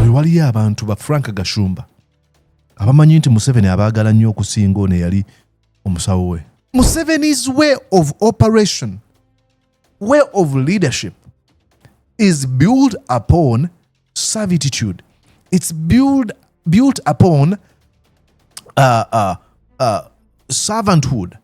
oyo waliyo abantu ba frank gashumba abamanyi nti museveni abaagala nnyo okusinga ono eyali omusawo we museveni's way of operation way of leadership is built upon servitude it's built, built upon uh, uh, uh, servanthood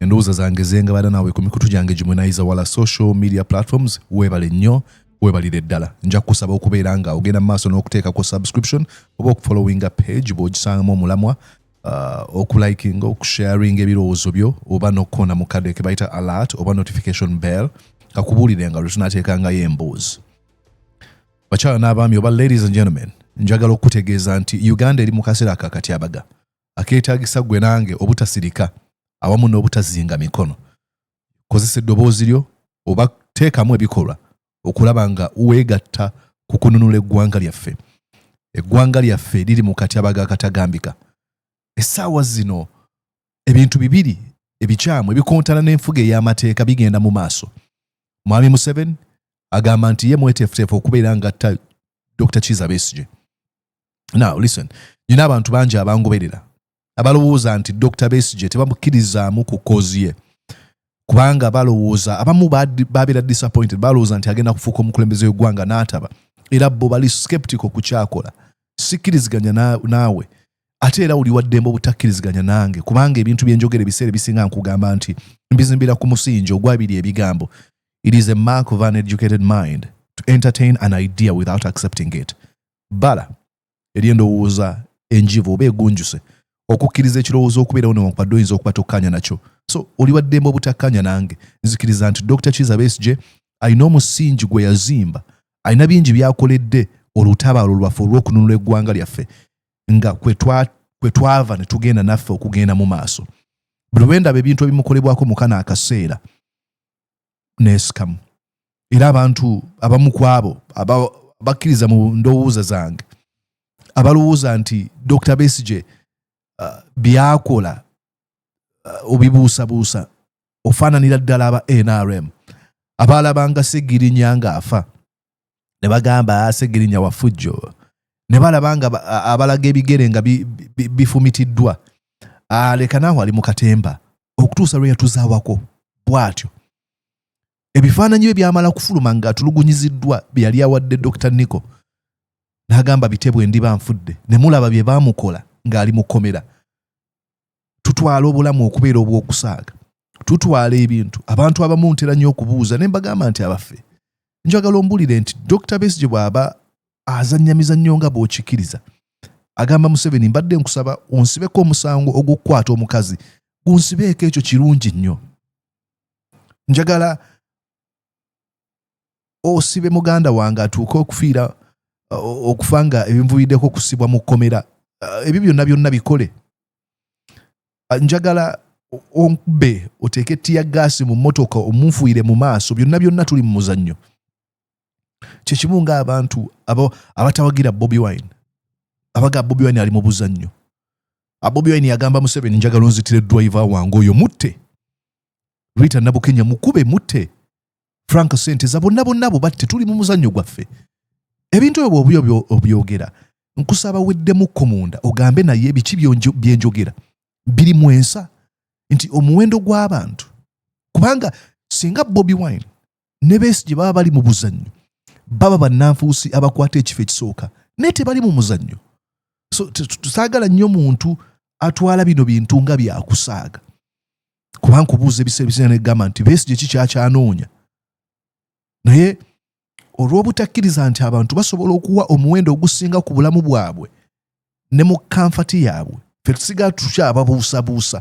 endowooza zange zengabada naawe ku mikutu gyange gimwe nayiza wala social media platforms weebale nnyo webalire ddala nja kukusaba okubeera nga ogenda mu maaso n'okuteekako subscription oba okufollowinga page bw'ogisangamu omulamwa uh, okulikinga okusharinga ebirowoozo byo oba n'okukoona mu kadde ke bayita alert oba notification bell kakubuulire nga lwe tunateekangayo emboozi bakyala n'abaami oba ladies and gentlemen njagala okukutegeeza nti uganda eri mu kaseera akakatyabaga akeetaagisa gwe nange obutasirika awamu n'obutazinga mikono kozesa eddoboozi lyo oba teekamu ebikolwa okulaba nga weegatta ku kununula eggwanga lyaffe eggwanga lyaffe liri mu katyabaga akatagambika essaawa zino ebintu bibiri ebikyamu ebikontana n'enfuga ey'amateeka bigenda mu maaso mwami museveni agamba nti ye mweteefuteefu okubeera ngatta dr kiza besige now listen nina abantu bangi abangoberera abalowooza nti dr besije tebamukkirizaamu ku kozi ye kubanga balowooza abamu babeera disappointed balowooza nti agenda kufuuka omukulembeze wegwanga n'ataba era bo bali skeptical ku kyakola sikkiriziganya naawe ate era oli waddembe obutakkiriziganya nange kubanga ebintu byenjogera ebiseera ebisinga nkugamba nti mbizimbira ku musingi ogwabiri ebigambo it is a mark of an educated mind to entertain an idea without accepting it bbala ery'endowooza enjivu oba egunjuse okukkiriza ekirowoozo okubeerawo newankubadde oyinza okuba tokkanya nakyo so oli waddembe obutakanya nange nzikiriza nti dr kiza besje alina omusingi gwe yazimba alina bingi byakoledde olutabaalo lwaffe olw'okununula eggwanga lyaffe nga kwe twava ne tugenda naffe okugenda mu maaso buli lwendaba ebintu ebimukolebwako mukana akaseera neesikamu era abantu abamu ku abo bakkiriza mu ndowooza zange abalowooza nti dr besige uh, byakola uh, obibuusabuusa ofaananira ddala aba nrm abaalabanga segirinya ng'afa ne bagamba Ssegirinya wa fujjo ne balaba nga abalaga ebigere nga bifumitiddwa aleka naawe ali mu katemba okutuusa lwe yatuzaawako bw'atyo ebifaananyi bye byamala kufuluma ng'atulugunyiziddwa bye yali awadde dr nico n'agamba bitebwe ndiba nfudde ne mulaba bye baamukola ng'ali mu kkomera tutwala obulamu okubeera obw'okusaaga tutwala ebintu abantu abamu ntera nnyo okubuuza ne mbagamba nti abaffe njagala ombulire nti dr besige bw'aba azannya mizannyo nga bw'okikkiriza agamba museveni mbadde nkusaba onsibeko omusango ogw'okukwata omukazi gunsibeeko ekyo kirungi nnyo njagala osibe muganda wange atuuke okufiira uh, okufa nga ebinvuyiddeko okusibwa mu kkomera uh, ebyo byonna byonna bikole uh, njagala onkube oteeke ettiya gaasi mu mmotoka omunfuire mu maaso byonna byonna tuli mu muzannyo kyekimu ngaabantu abatawagira bobi wine abaga bobi wine ali mu buzannyo bobi wine yagamba museveni njagala onzitire driver wange oyo mutte Rita Nabukenya mukube mutte Frank Senteza bonna bonna abo batte tuli mu muzannyo gwaffe ebintu ebyo bwobyo obyogera nkusaba weddemukko munda ogambe naye biki byenjogera biri mu ensa nti omuwendo gw'abantu kubanga singa Bobi Wine ne Besigye baba bali mu buzannyo baba bannanfuusi abakwata ekifo ekisooka naye tebali mu muzannyo so tusaagala nnyo muntu atwala bino bintu nga byakusaaga kuba nkubuuza ebiseera ebisinga negamba nti besigye ki kyakyanoonya naye olw'obutakkiriza nti abantu basobola okuwa omuwendo ogusinga ku bulamu bwabwe ne mu kanfati yaabwe fe tusiga tukyababuusabuusa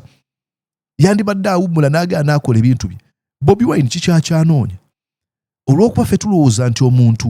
yandibadde awummula n'agenda n'akola ebintu bye bobi wine kikyakyanoonya olw'okuba fe tulowooza nti omuntu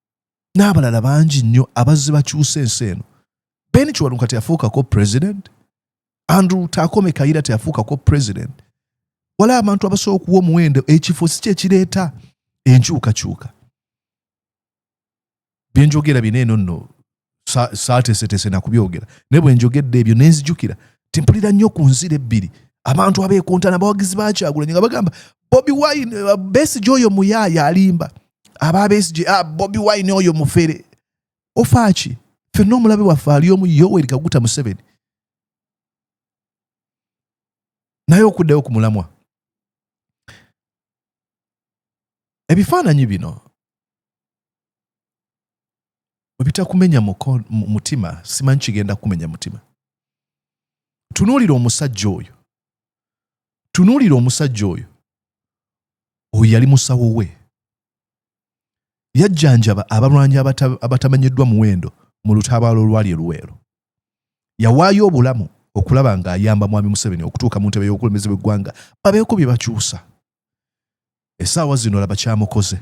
n'abalala bangi nnyo abazze bakyusa ensi eno ben kiwanuka teyafuukako president andrew takome kayira teyafuukako president wala abantu abasobola okuwa omuwendo ekifo si kyekireeta enkyukakyuka byenjogera bino eno nno saateeseteese na kubyogera naye bwe njogedde ebyo ne nzijukira timpulira nnyo ku nzira ebbiri abantu abeekontana abawagizi bakyagulanyi nga bagamba bobi wine eh, besigi oyo muyaaya alimba aba besigi ah, bobi wine oyo mufere ofaaki fenna omulabe waffe ali omu yoweri kaguta museveni naye okuddayo ku mulamwa ebifaananyi bino ebitakumenya mutima simanyi kigenda kumenya mutima tunuulira omusajja oyo tunuulira omusajja oyo oyo yali musawo we yajjanjaba abalwanyi abatamanyiddwa muwendo mu lutabaalo olwali eluweero yawaayo obulamu okulaba ng'ayamba mwami museveni okutuuka mu ntebe y'obukulembeze bw'eggwanga babeeko bye bakyusa essaawa zino laba kyamukoze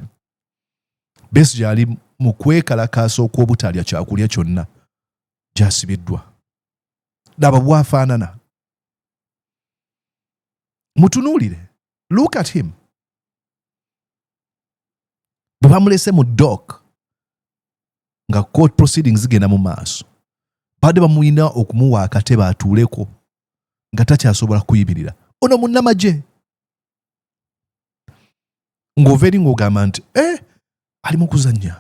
Besigye ali mu kwekalakaasa okw'obutalya kyakulya kyonna gyasibiddwa. Laba bwafaanana, mutunuulire, look at him. Bwe bamulese mu dok nga court proceedings zigenda mu maaso, baadde bamulina okumuwa akatebe atuuleko nga takyasobola kuyimirira. Ono munnamagye ng'ova eri ng'ogamba nti e eh, ali mu kuzannya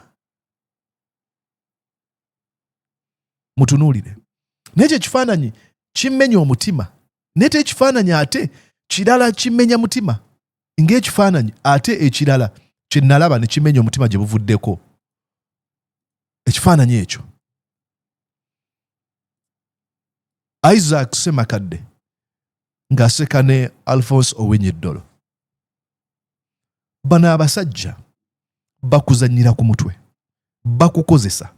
mutunuulire naye kyo ekifaananyi kimmenya omutima naye te ekifaananyi ate kirala kimmenya mutima ng'ekifaananyi ate ekirala kye nalaba ne kimenya omutima gye buvuddeko ekifaananyi ekyo isaac semakadde ng'aseka ne alphonse owenyeddolo bano abasajja bakuzanyira ku mutwe bakukozesa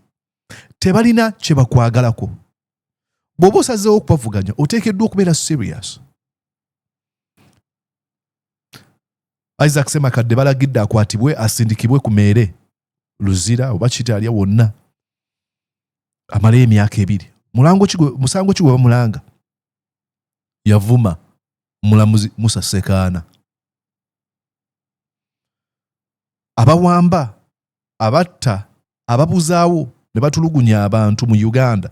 tebalina kye bakwagalako bw'oba osazeewo okubavuganya oteekeddwa okubeera serious isaac semakadde balagidde akwatibwe asindikibwe ku meere luzira oba kitalya wonna amalayo emyaka ebiri musango ki gwe bamulanga yavuma omulamuzi musa sekaana abawamba abatta ababuzaawo ne batulugunya abantu mu uganda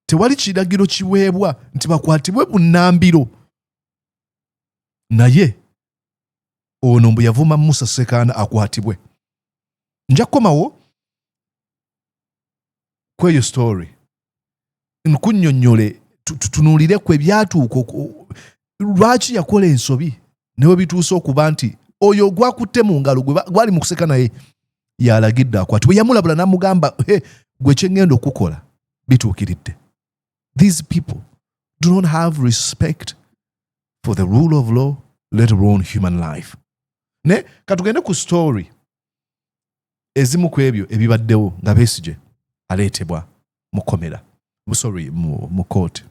tewali kiragiro kiweebwa nti bakwatibwe bunambiro naye ono mbu yavuma musa sekaana akwatibwe nja kukomawo kweyo story nkunyonyole tutunulire ku ebyatuuka lwaki yakola ensobi newe bituuse okuba nti oyo gwakutte mu ngalo gwali mu kuseka naye yalagidde akwatibwe yamulabula namugamba he gwe kyengenda okukola bituukiridde these people do not have respect for the rule of law let alone human life ne katugende ku story ezimu ku ebyo ebibaddewo nga Besigye aleetebwa mu komera sorry mu kooti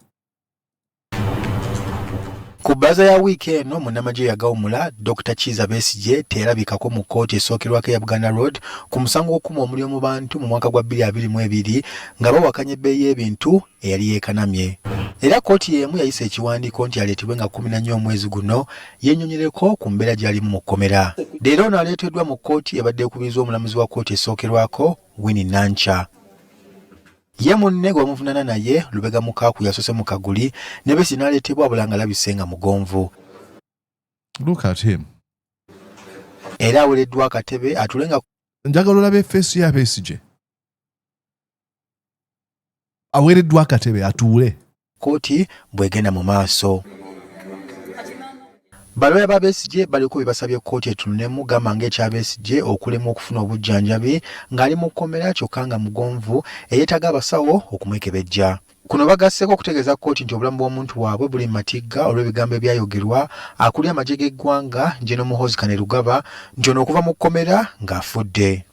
ku bbaza ya wiiki eno munnamagye yagawumula dr kiiza besigye teyalabikako mu kkooti esookerwako eya buganda road ku musango gw'okukuma omuliro mu bantu mu mwaka gwa 2022 nga bawakanya ebbeeyi y'ebintu eyali yeekanamye. Era kkooti y'emu yayisa ekiwandiiko nti aleetebwe nga kkumi na nnya omwezi guno yennyonyereko ku mbeera gy'alimu mu kkomera. Leero ono aleeteddwa mu kkooti ebadde ekubirizwa omulamuzi wa kkooti esookerwako Winnie Nankya. Ye munne gwe bamuvunaana naye Lubega Mukaaku yasoose mu kaguli ne Besigye n'aleetebwa wabula ng'alabise nga mugonvu. Look at him. Era awereddwa akatebe atule nga. Njagala olabe feesi ya Besigye. aweereddwa akatebe atuule kkooti bw'egenda mu maaso. Balooya ba Besigye baliko bye basabye kkooti etunulemu gamba ng'ekya Besigye okulemwa okufuna obujjanjabi ng'ali mu kkomera kyokka nga mugonvu eyeetaaga abasawo okumwekebejja. Kuno bagasseeko okutegeeza kkooti nti obulamu bw'omuntu waabwe buli mu matigga olw'ebigambo ebyayogerwa akulira amagye g'eggwanga General Muhoozi Kainerugaba nti ono okuva mu kkomera ng'afudde.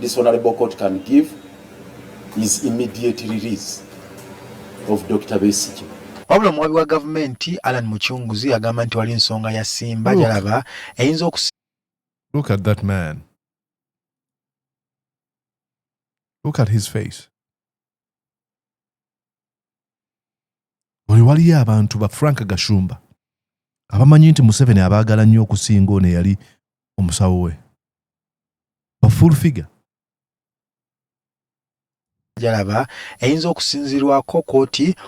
this honorable court can give is immediate release of Dr. Besigye. Wabula omuwabi wa gavumenti Alan Mucunguzi agamba nti wali ensonga ya Simba gyalaba eyinza okus Look at that man. Look at his face. oyo waliyo abantu ba frank gashumba abamanyi nti museveni abaagala nnyo okusinga ono eyali omusawo we bafull figure jalaba eyinza okusinzirwako koti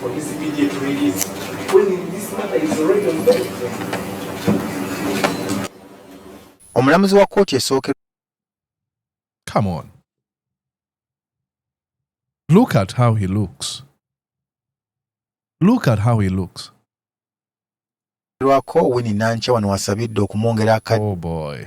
for this immediate release when this matter is already on the omulamuzi wa kkooti esooke come on look at how he looks look at how he looks lwako wini nankya wano wasabidde okumwongera aka oh boy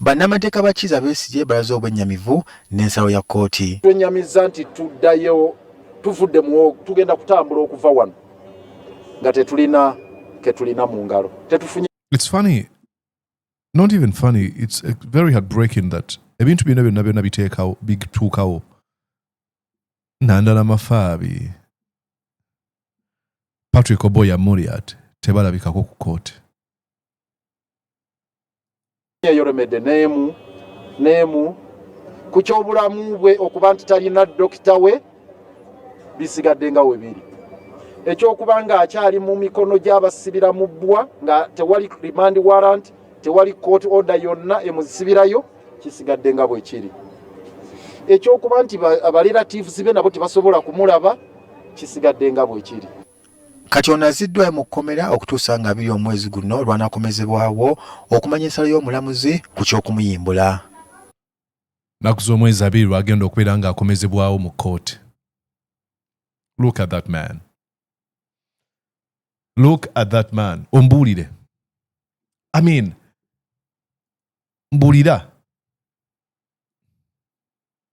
Bannamateeka ba Kiiza Besigye balaze obwennyamivu n'ensalo ya kkooti. Twenyamizza nti tuddayo tuvudde mu tugenda kutambula okuva wano nga tetulina ketulina mu ngalo tetufunye It's funny not even funny it's uh, very heartbreaking that ebintu byonna byonna byonna biteekawo bituukawo nandala mafaabi patrick oboya moriat tebalabikako ku kooti eyoremedde n'emu n'emu ku ky'obulamu bwe okuba nti talina dokita we bisigadde nga we biri ekyokuba ng'akyali mu mikono gy'abasibira mu bbwa nga tewali remand warrant tewali court order yonna emuzisibirayo kisigadde nga bwe kiri ekyokuba nti abaliratives be nabo tebasobola kumulaba kisigadde nga bwe kiri Kati ono aziddwayo mu kkomera okutuusa nga abiri omwezi guno lwanakomezebwawo okumanya ensala y'omulamuzi ku ky'okumuyimbula. Nnaku z'omwezi abiri lwagenda okubeera ng'akomezebwawo mu kkooti. Look at that man. Look at that man. Ombuulire. I mean, mbulira.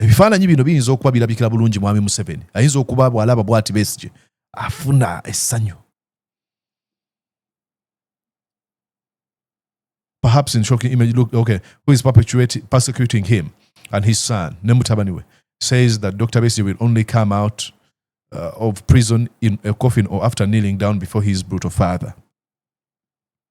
ebifaananyi bino biyinza okuba birabikira bulungi mwami museveni ayinza okuba bwalaba bwati besije afuna essanyu perhaps in shocking image look okay who is persecuting him and his son ne mutabani we says that dr besije will only come out uh, of prison in a coffin or after kneeling down before his brutal father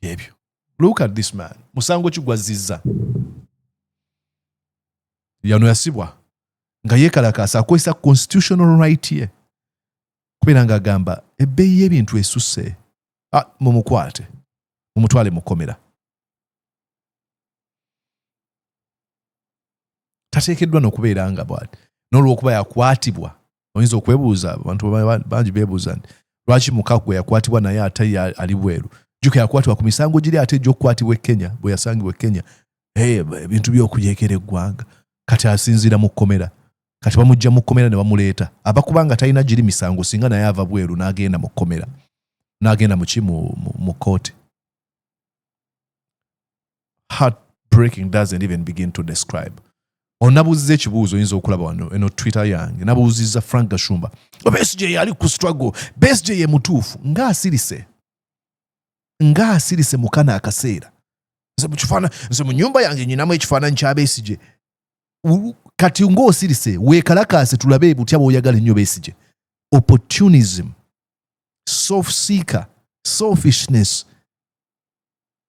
ebyo look at this man musango ki gwazzizza yano yasibwa nga yekalakaasa akozesa constitutional right ye kubeera nga agamba ebbeeyi y'ebintu esusse ah, mumukwate mumutwale mukomera tateekeddwa nokubeera nga bwati n'olwokuba yakwatibwa oyinza okwebuuza abantu bangi bebuuza nti lwaki mukagwe yakwatibwa naye ate ali bweru juka yakwatibwa ku misango giri ate egyokukwatibwa ekenya bwe yasangibwa ekenya ebintu byokuyekera eggwanga kati asinziira mu kkomera kati bamujja mu kkomera ne bamuleeta aba kubanga talina giri misango singa naye ava bweru n'agenda mu kkomera n'agenda muki mu kkooti heart breaking doesn't even begin to describe onabuuziza ekibuuzo oyinza okulaba wano eno twitter yange nabuuziza frank gashumba besj yali ku struggle besj ye mutuufu nga asirise nga asirise mukana akaseera nze mukifana nze mu nyumba yange nyinamu ekifaananyi kya besije kati ngaosirise wekalakaase tulabe butya bwoyagala ennyo besije opportunism self seeker selfishness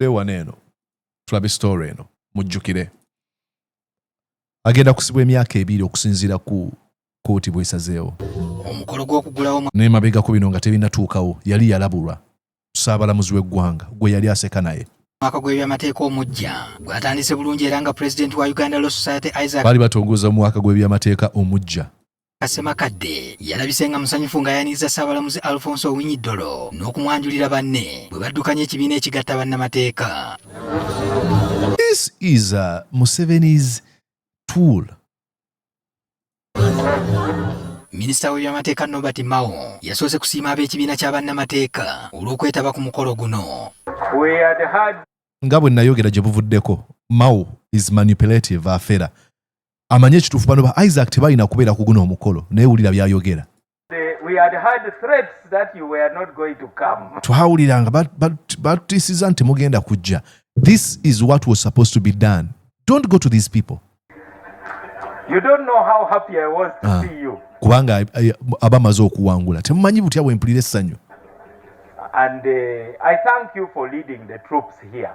katude wano eno tulabe story eno mujjukire agenda kusibwa emyaka ebiri okusinziira ku kooti bwesazeewo omukolo gwokugulawo naye mabegako bino nga tebinatuukawo yali yalabulwa saabalamuzi w'eggwanga gwe yali aseka naye mwaka gw'ebyamateeka omujja gwatandise bulungi era nga pulezidenti wa uganda law society isaac baali batongoza omwaka gw'ebyamateeka omujja Ssemakadde yalabise nga musanyufu nga yaniriza Ssaabalamuzi Alfonso Owinyi Ddolo n'okumwanjulira banne bwe baddukanya ekibiina ekigatta bannamateeka. This is uh, Museveni's tool. Minisita w'ebyamateeka Nobert Mao yasoose kusiima ab'ekibiina kya bannamateeka olw'okwetaba ku mukolo guno. Nga bwe nayogera gye buvuddeko, Mao is manipulative afera. amanye ekituufu bano ba isaac tebalina kubeera ku guno omukolo naye wulira byayogera twawulira nga batutiisiza nti mugenda kujja this is what was supposed to be done don't go to these people you don't know how happy i was to ah. see you kubanga eh, aba amaze okuwangula temumanyi butya bwempulira essanyu and uh, i thank you for leading the troops here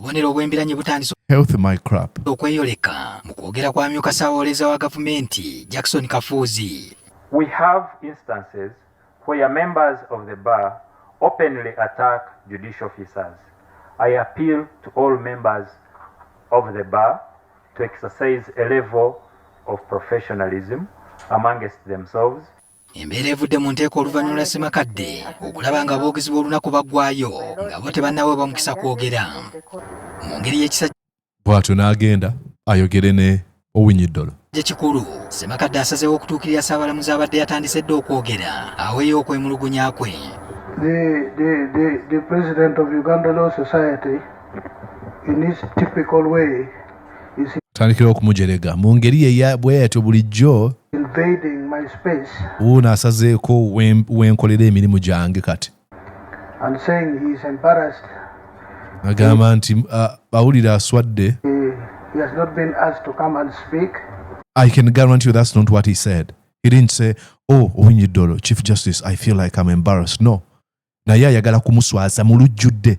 obubonero obw'embiranye butandise okweyoleka mu kwogera kwa myuka ssawooleza wa gavumenti jackson kafuuzi We have instances where members of the bar openly attack judicial officers. I appeal to all members of the bar to exercise a level of professionalism amongst themselves Embeera evudde mu nteeko oluvannyuma lwa Ssemakadde okulaba nga aboogezi b'olunaku baggwayo nga bo tebannaweebwa mukisa kwogera mu ngeri y'ekisa bw'atyo n'agenda ayogere ne Owinyiddolo. Ekikulu Ssemakadde asazeewo okutuukirira Ssaabalamuzi abadde yatandise dda okwogera aweeyo okwemulugunya kwe. The, the, the, the president of Uganda Law Society in his typical way tandikira okumujerega mu ngeri bweyatyo bulijjo wuuno asazeeko wenkolera emirimu gyange kati agamba nti awulira aswadde I can guarantee you that's not what he said. He didn't say, Oh, Owinyi Dolo, Chief Justice, I feel like I'm embarrassed. No. Naye ayagala kumuswaza mu lujjudde.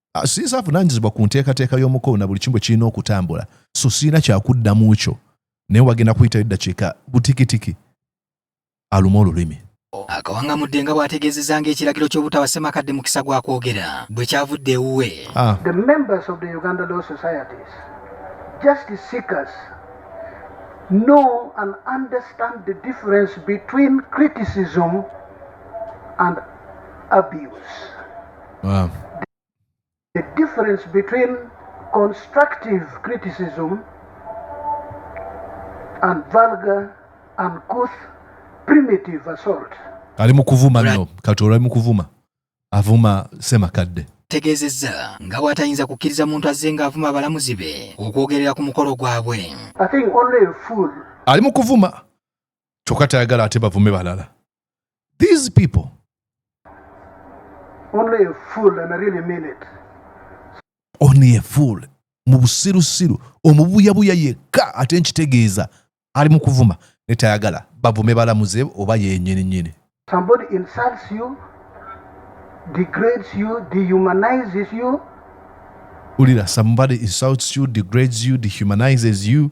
ah, siyinza avunaanyizibwa ku nteekateeka y'omukolo na buli kimu bwe kirina okutambula so sirina kyakuddamu kyo naye wagenda kuyitayo eddakiika butikitiki aluma olulimi akawangamudde nga bw'ategeezezza ng'ekiragiro ky'obutawa ssemakadde mukisa gwa kwogera bwe kyavudde ewuwe ah. know and understand the difference between criticism and abuse. Wow. The difference between constructive criticism and vulgar and couth primitive assault. Ali mu kuvuma nno katoolo ali mu kuvuma avuma semakadde tegezeza nga bw'atayinza kukkiriza muntu azze ng'avuma abalamuzi be okwogerera ku mukolo gwabwe ali mu kuvuma kyokka tayagala ate bavume balala These people. Only a fool and I really mean it. Only a fool. mu busirusiru omubuyabuya yekka ate nkitegeeza ali mu kuvuma netayagala bavume balamuze oba yenyininyini ulira somebody insults you degrades you dehumanizes you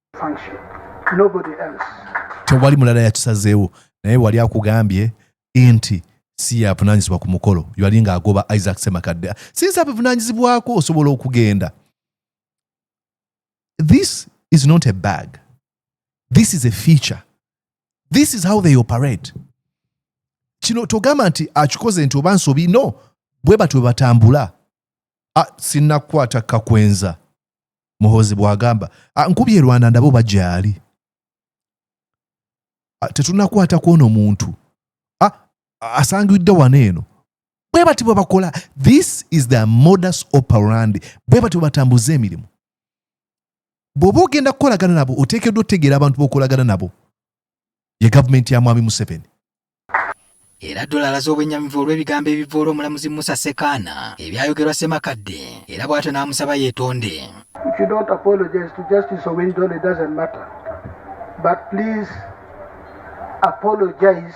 tewali mulala yakisazeewo naye wali akugambye nti si yavunanyizibwa ku mukolo yali nga agoba isaac semakadde sinsi abivunanyizibwako osobola okugenda this is not a bag this is a feature this is how they operate kino togamba nti akikoze nti oba nsobi no bwe batyo batambula ah, sinnakukwata kakwenza muhozi bwagamba ah, nkubye rwanda ndabo bajaali ah, tetunakwata kwono muntu ah, asangidde wano eno bwe bati bwe bakola this is the modus operandi bwe bati bwe batambuza emirimu bw'oba ogenda kukolagana nabo oteekeddwa otegeera abantu b'okolagana nabo ye gavumenti ya mwami Museveni. Era Ddoola alaze obwennyamivu olw'ebigambo ebivvoola omulamuzi Musa Ssekaana ebyayogerwa Ssemakadde era bw'atyo n'amusaba yeetonde. If you don't apologize to Justice Owiny Dollo, it doesn't matter. But please apologize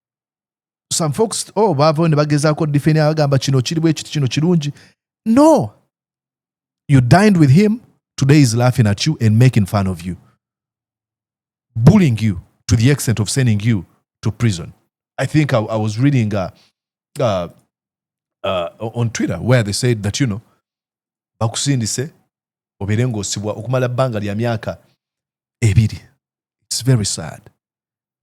some folks oh baavayo ne bagezaako defenia bagamba kino kiri bwe kiti kino kirungi no you dined with him today is laughing at you and making fun of you bullying you to the extent of sending you to prison i think i, I was reading uh, uh, uh, on twitter where they said that you know bakusindise obeere ng'osibwa okumala bbanga lya myaka ebiri its very sad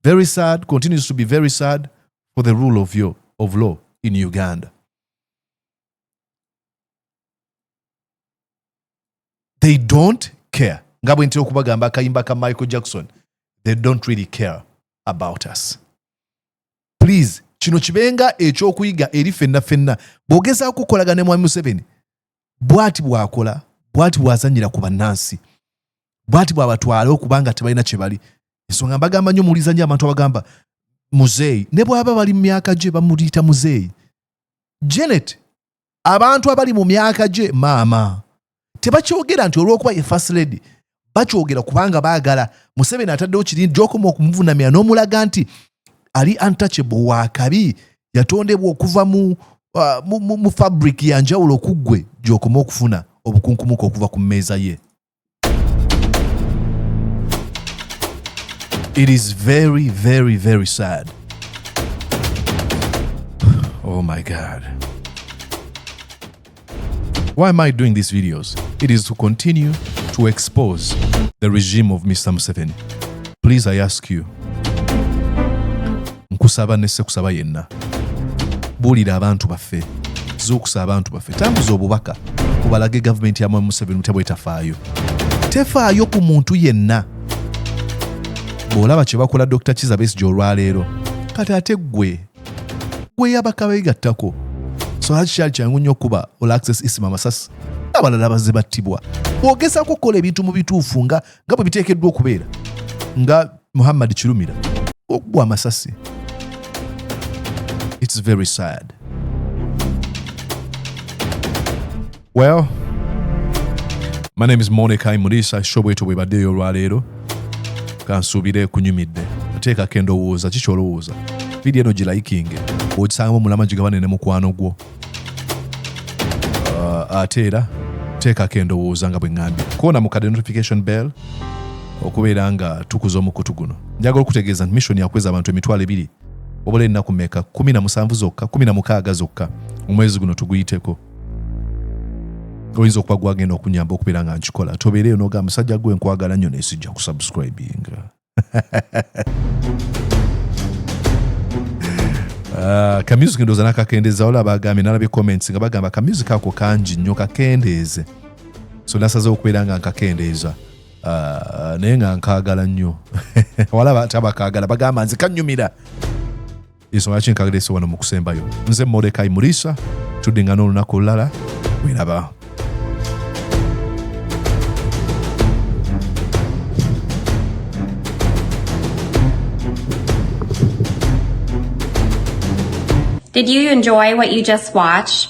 Very sad, continues to be very sad for the rule of, your, of law in Uganda. They don't care. nga bwe ntera okubagamba akayimba ka michael jackson they don't really care about us please kino kibenga ekyokuyiga eri fenna fenna bwogezako kukolagana ne mwami museveni bwati bwakola bwati bwazanyira ku bannansi bwati bwabatwala okuba nga tebalina kyebali ensonga mbagamba nyo muwuliza nyo abantu abagamba muzeeyi ne bwaba bali mu myaka gye bamuyita muzeeyi janet abantu abali mu myaka gye maama tebakyogera nti olwokuba ye first lady bakyogera kubanga baagala museveni ataddewo kirindi gyokoma okumuvunamira n'omulaga nti ali untouchable wa kabi yatondebwa okuva mu, uh, mu, mu, mu fabric ya njawulo okuggwe gyokoma okufuna obukunkumuka okuva ku mmeeza ye it is very very very sad oh my god Why am I doing these videos? It is to continue to expose the regime of Mr. Museveni. Please, I ask you. Nkusaba nese kusaba yenna. Bulira abantu baffe. Zukusa abantu baffe. Tambuza obubaka. Kubalage government ya Mwami Museveni mutabwe tafaayo. Tefaayo ku muntu yenna. Bw'olaba kye bakola Dr. Kizza Besigye olwaleero kati ate ggwe gweyabaka begattako songa kikyali kyangu nnyo okuba olaxes isima amasasi abalala bazze battibwa bwogezako okukola ebintu mu bituufu nga nga bwe biteekeddwa okubeera nga muhammad kirumira okugwa amasasi its very sad Well, my name is Mordecai Murisa shobweto bwebaddeyo olwaleero kansuubire kunyumidde ateekako endowooza kiki olowooza vidiyo eno gilayikinge ogisangamu omulama gigabane ne mukwano gwo uh, ate era teekako endowooza nga bwe ŋŋambye koona mu kade notification bell okubeera nga tukuza omukutu guno njagala okutegeeza nti mission yakweza abantu emitwalo ebiri obula ennaku meka 17 zokka 16 zokka omwezi guno tuguyiteko oyinza okuba gwagenda okunyamba okubeera nga nkikola tobeereyo noga musajja gwe nkwagala nnyo nesijja kusubscribinga Ah, ka music ndoza nakakendeza wala bagambye nalabye comments nga bagamba ka music ako kangi nnyo kakendeeze so nasaze okubeera nga nkakendeeza ah, naye nga nkagala nnyo wala tabakagala bagamba nze kanyumira ensonga ki nkagerese wano mu kusembayo nze morekai muriisa tuddingana olunaku olulala weraba Did you enjoy what you just watched?